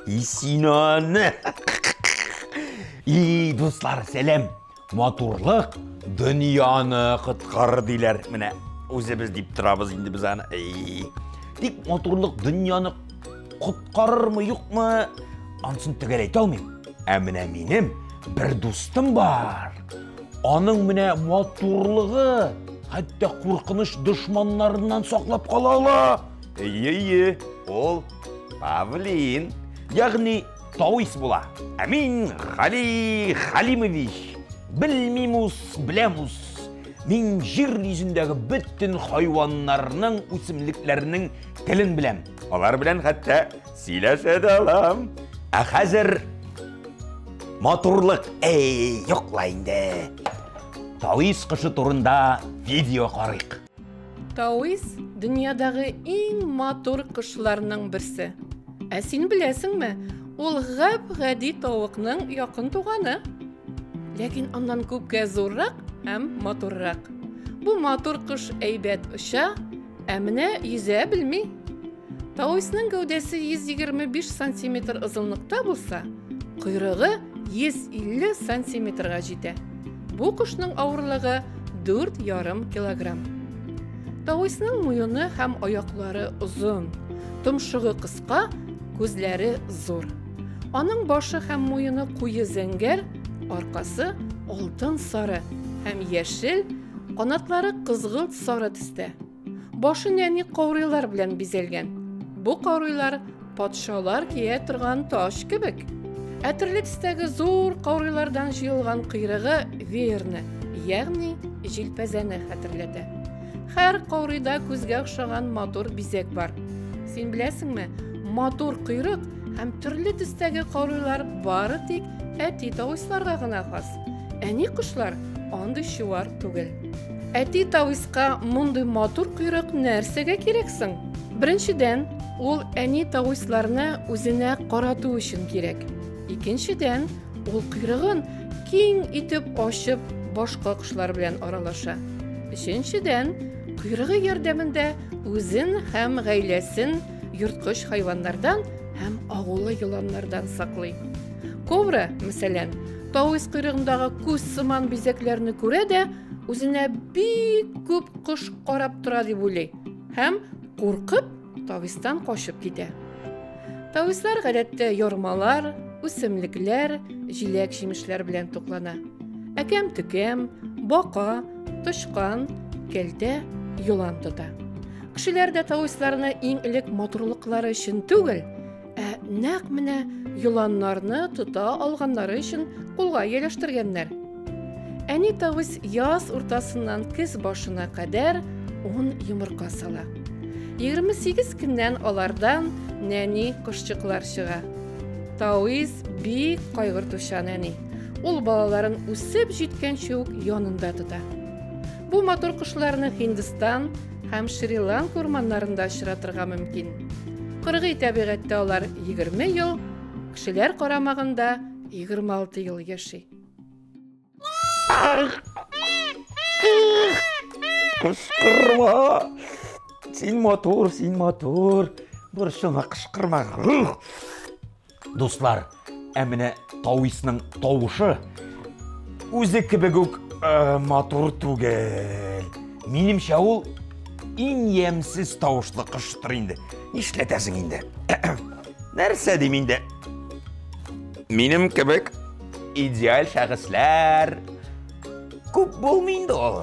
Исинаны. И, дуслар, сәлам. Матурлык дөньяны коткарыр диләр. Менә үзебез дип торабыз инде без аны. Тик матурлык дөньяны коткарырмы, юкмы, ансын төгәл әйтә алмыйм. Ә менә минем бер дустым бар. Аның менә матурлыгы хәтта куркыныч дошманнарыннан саклап кала ала. Әйе, әйе, ул Павлин. Ягъни Тавис була. Ә мин Гали Халимович. Белмимус, беләмус. Мин җир йөзендәге бөтен хайваннарның, үсемлекләрнең телен беләм. Алар белән хәтта сөйләшә дә алам. Ә хәзер матурлык, эй, юкла инде. Тавис кышы турында видео карыйк. Тауис дөньядагы иң матур кошларның берсе. Ә син беләсеңме, ул гап-гади тавыкның якын туганы. Ләкин аннан күпкә зуррак һәм матуррак. Бу матур кош әйбәт оча, ә менә йөзә белми. Тауисның гәүдәсе 125 сантиметр озынлыкта булса, койрыгы 150 сантиметрга җитә. Бу кошның авырлыгы 4,5 килограмм. Тауисның муены һәм аяклары озын, томшыгы кыска, күзләре зур. Аның башы һәм муены куе зәңгәр, аркасы алтын сары һәм яшел, канатлары кызгылт сары төстә. Башын әни каурыйлар белән бизәлгән. Бу каурыйлар патшалар кия торган таҗ кебек. Ә төрле төстәге зур каурыйлардан җыелган кыйрыгы веерны, ягъни җилпәзәне хәтерләтә. Һәр каурыйда күзгә охшаган матур бизәк бар. Син беләсеңме, матур кыйрык һәм төрле төстәге каурыйлар бары тик әти тавысларга гына хас. Әни кошлар андый чуар түгел. Әти тависка мондый матур койрык нәрсәгә кирәк соң? Беренчедән, ул әни тависларны үзенә карату өчен кирәк. Икенчедән, ул койрыгын киң итеп ачып, башка кошлар белән аралаша. Өченчедән, койрыгы ярдәмендә үзен һәм гаиләсен йорткыч хайваннардан һәм агулы еланнардан саклый. Кобра, мәсәлән, Тавис койрыгындагы күз сыман бизәкләрне күрә дә, үзенә бик күп кош карап тора дип уйлый һәм, куркып, тавистан качып китә. Тавислар гадәттә ярмалар, үсемлекләр, җиләк-җимешләр белән туклана. Әкәм-төкәм, бака, тычкан, кәлтә, йолан тота. Кешеләр дә тависларны иң элек матурлыклары өчен түгел, Ә нәкъ менә еланнарны тота алганнары өчен кулга ияләштергәннәр. Әни тавыс яз уртасыннан көз башына кадәр ун йомырка сала. 28 көннән алардан нәни кошчыклар чыга. Тавис бик кайгыртучан әни. Ул балаларын үсеп җиткәнче үк янында тота. Бу матур кошларны Һиндстан, Һәм Шри-Ланка урманнарында очратырга мөмкин. Кыргый табигатьтә алар 20 ел, кешеләр карамагында 26 ел яши. Кышкырма! Син матур, син матур. Борчылма, кышкырма. Дуслар, ә менә Тависның тавышы үзе кебек үк э, матур түгел. Минемчә ул иң ямьсез тавышлы коштыр инде. Нишләтәсең инде? Нәрсә дим инде? Минем кебек идеаль шәхесләр күп булмый инде ул.